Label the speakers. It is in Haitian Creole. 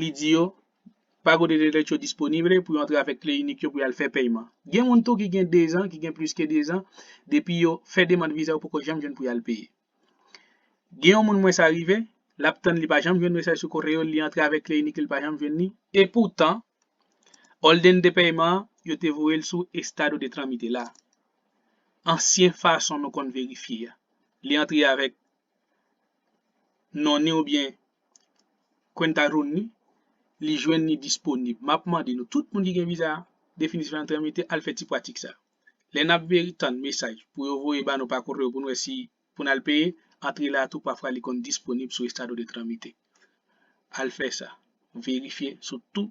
Speaker 1: li di yo Pago de Derecho Disponible pou yo antre avèk kle inik yo pou y al fè pèyman. Gen moun tou ki gen 2 zan, ki gen plis ke 2 zan, depi yo fè demand viza yo poko janm jwenn pou y al peye. Gen yon moun mwen sa rive, l ap tann li pa janm jwenn mesaj sou koreo l, li antre avèk kle inik li l pa janm jwenn li, epoutan òldenn de pèyman an yo te voye l sou Estado de Tramite la, ansyen fason nou konn verifye a, li antre avèk non ni oubyen kwenta rou ni li jwenn ni disponib map mande nou tout moun ki gen viza definitif antre mete al fè ti pratik sa lè nap veri tann mesaj pou yo voye ba nou pa koreo pou nou wè si pou nal peye antre la tou pafwa li konn disponib sou estado de tramite al fè sa verifye sou tout